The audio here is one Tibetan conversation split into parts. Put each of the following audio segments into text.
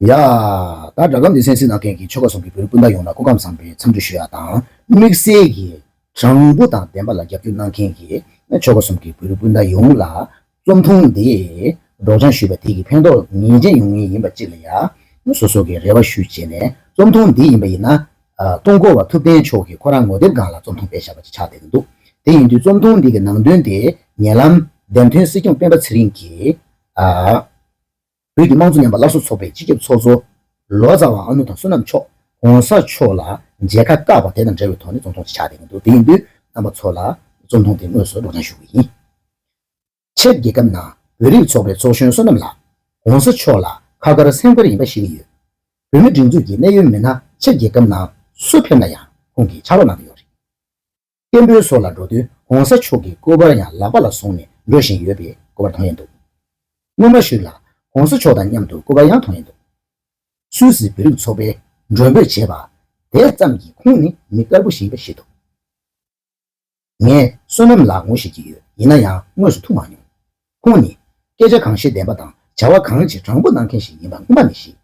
ཡ། ད་སྦྲག་སྒམ་འདི་སེམས་གསེང་གནང་མཁན་གྱི་ཆོལ་ཁ་ཟུང་གི་བོད་རིགས་སྤུན་ཟླ་ཡོངས་ལ་སྐུ་ཁམས་བཟང་པོའི་འཚམས་འདྲི་ཞུ་ཡག་དང་དམིགས་བསལ་གྱིས་དྲང་པོ་དང་བདེན་པ་ལ་རྒྱབ་སྐྱོར་གནང་མཁན་གྱི་ཆོལ་ཁ་ཟུང་གི་བོད་རིགས་སྤུན་ཟླ་ཡོངས་ལ་རྩོམ་ཐུང་འདི་སྒྲོག་སྦྱང་ཞུས་པ་དེ་ཡི་ཕན་ཐོགས་ངེས་ཅན་ཡོང་ངེས་ཡིན་པ་གཅིག་ལ་ཡ། སོ་སོ་གིས་རེ་བ་ཞུ་བྱས་ནས་རྩོམ་ཐུང་འདི་ཡིན་པ་ཡིན་ན། ཐུང་འཁོར་བ་ཐུབ་བསྟན་མཆོག་གིས་ཁོ་རང་ངོ་དེབ་སྒང་ལ་རྩོམ་ཐུང་སྤེལ་བཞག་པ་ཅིག་ཆགས་བསྡད་ཀྱི་འདུག་དེ་ཡིན་དུས་རྩོམ་ཐུང་འདི་གི་ནང་དོན་དེ་ཉེ་ལམ་བདེན་དོན་སྲིད་སྐྱོང་སྤེན་པ་ཚེ་རིང་གིས། བོད་ཀྱི་དམངས་གཙོ་ཉམས་པ་སླར་གསོ་ཚོགས་པའི་སྤྱི་ཁྱབ་ཚོགས་གཙོ། ལོ་ཙཱ་བ་ཨ་ནུ་དང་བསོད་ནམས་མཆོག ྋགོང་ས་མཆོག་ལ་མཇལ་ཁ་བཀག་པ་དེ་དང་འབྲེལ་བའི་ཐོག་ནས་བཙོན་ཐོངས་ཆེ་ཆགས་བསྡད་ཀྱིན་འདུག་དེ་ཡིན་དུས་རྣམ་པ་ཚོ་ལ་བཙོན་ཐོངས་དེ་དངོས་སུ་སྒྲོག་སྦྱང་ཞུ་གི་ཡིན། ཆེད་རྒྱལ་ཁབ་ནང་བོད་རིགས་ཚོགས་པའི་ཚོགས་གཞོན་བསོད་ནམས་ལགས། ྋགོང་ས་མཆོག་ལ་ཁ་དཀར་སེམས་དཀར་ཡིན་པ་ཤེས་ཀྱི་ཡོད། བོད་མི་སྒྲིག་འཛུགས་ཀྱི་གནད་ཡོད་མི་སྣ་ཆེད་རྒྱལ་ཁབ་ནང་སུ་ཕེབས་ན་ཡང་ཁོང་གིས་ཕྱག་རོགས་གནང་གི་ཡོད་རེད། བསྟན་འགྲོའི་སྲོག་ལ་འགྲོ་དོན ྋགོང་ས་མཆོག་གི་སྐུ་པར་ཡང་ལག་པ་ལ་བཟུང་ནས་འགྲོ་བཞིན་ཡོད་པས་སྐུ་པར་དོང་ཡས་འདུག་སྔོན་མ་ཞིག་ལ ྋགོང་ས་མཆོག་དང་མཉམ་དུ་སྐུ་པར་ཡང་དོང་ཡས་འདུག་སུད་སི་བོད་རིགས་ཚོགས་པའི་མགྲོན་འབོད་བྱས་པ་དེ་ཙམ་གྱིས་ཁོང་ནི་མི་དཀར་པོ་ཞིག་རེད་ཤེས་ཐུབ། ངས་བསོད་ནམས་ལགས་ངོ་ཤེས་ཀྱི་ཡོད་ཡིན་ན་ཡང་དངོས་སུ་ཐུག་མ་མྱོང། ཁོང་ནི་སྐད་ཆ་གང་བཤད་བདེན་པ་དང་བྱ་བ་གང་བྱེད་དྲང་པོ་གནང་མཁན་ཞིག་ཡིན་པ་སྔོན་མ་ནས་ཤེས།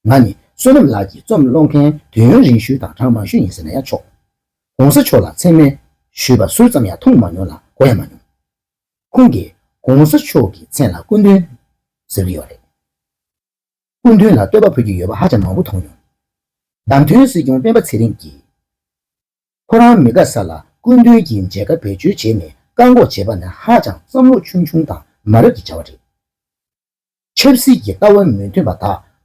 ང་ནི་བསོད་ནམས་ལགས་ཀྱི་རྩོམ་ཀློག་མཁན་དུས་ཡུན་རིང་ཤོས་དང་གྲངས་མང་ཤོས་ཡིན་ཟེར་ན་ཡང་ཆོག། གོང་ས་མཆོག་ལ་མཚན་སྨད་ཞུས་པ་སུས་ཙམ་ཡང་མཐོང་མ་མྱོང་ལ་གོ་ཡང་མ་མྱོང། ཁོང་གིས་གོང་ས་མཆོག་གི་མཚན་ལ་སྐུ་མདུན་ཟེར་གྱི་ཡོད་རེད། སྐུ་མདུན་ལ་བསྟོད་པ་ཕུལ་གྱི་ཡོད་པ་ཧ་ཅང་མང་པོ་མཐོང་མྱོང། བདམས་ཐོན་སྲིད་སྐྱོང་སྤེན་པ་ཚེ་རིང་གིས་ཁོ་རང་མི་དགའ་ས་ལ་སྐུ་མདུན་གྱིས་མཇལ་ཁ་བེད་སྤྱོད་བྱས་ནས་བཀག་འགོག་བྱས་པ་ནི་ཧ་ཅང་བསམ་བློ་ཆུང་ཆུང་དང་མ་རབས་ཀྱི་བྱ་བ་རེད། ཆབ་སྲིད་ཀྱི་ལྟ་བ་མི་མཐུན་པ་དག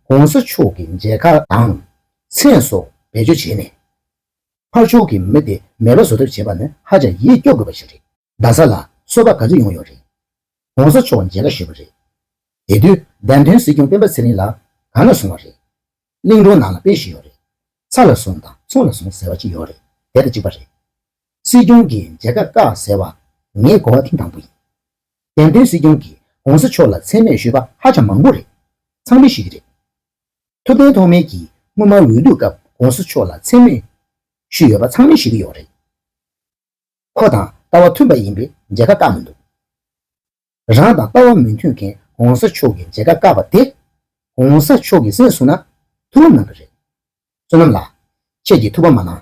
ྋགོང་ས་མཆོག་གི་མཇལ་ཁ་དང། མཚན་སོགས་བེད་སྤྱོད་བྱས་ནས། ཕར་ཕྱོགས་ཀྱི་མི་དེ་མེད་པ་བཟོ་ཐབས་བྱེད་པ་ནི་ཧ་ཅང་ཡིད་སྐྱོ་དགོས་པ་ཞིག་རེད། རྡ་ས་ལ་གསོལ་བ་ག་ཚོད་ཡོང་ཡོད་རེད། ྋགོང་ས་མཆོག་མཇལ་ཁ་ཞུས་པ་རེད། དེ་དུས་བདམས་ཐོན་སྲིད་སྐྱོང་སྤེན་པ་ཚེ་རིང་ལགས་གང་ལ་སོང་བ་རེད། གླིང་སྒྲུང་ནང་ལ་དཔེ་ཞིག་ཡོད་རེད། ཚ་ལ་སོང་དང་ཚོང་ལ་སོང་ཟེར་བ་ཅིག་ཡོད་རེད་དེ་དང་གཅིག་པ་རེད། སྲིད་སྐྱོང་གི་མཇལ་ཁ་བཀག་ཟེར་བ་ངས་གོ་བ་ཐིང་དང་པོ་ཡིན། བདེན་དོན་སྲིད་སྐྱོང་གིས་གོང་ས་མཆོག་ལ་མཚན་སྨད་ཞུས་པ་ཧ་ཅང་མང་པོ་རེད། ཚང་མི་ཞིག་རེད། ཐུབ་བསྟན་ཐོག་མེད་ཀྱིས་སྔོན་མ་འོས་བསྡུ་སྐབས་གོང་ས་མཆོག་ལ་མཚན་སྨད་ཞུས་ཡོད་པ་ཚང་མི་ཞིག་གི་ཡོག་རེད། ཁོ་དང་ལྟ་བ་མཐུན་པ་ཡིན་པའི་མཇལ་ཁ་བཀག་མི་འདུག། རང་དང་ལྟ་བ་མི་མཐུན་མཁན་གོང་ས་མཆོག་གི་མཇལ་ཁ་བཀག་པ་དེ། གོང་ས་མཆོག་གི་སེམས་བཟུང་ན་ཐུགས་ལམ་ནང་གི་རེད། བསོད་ནམས་ལགས། ཁྱེད་ཀྱིས་ཐུགས་ཕམ་མ་གནང།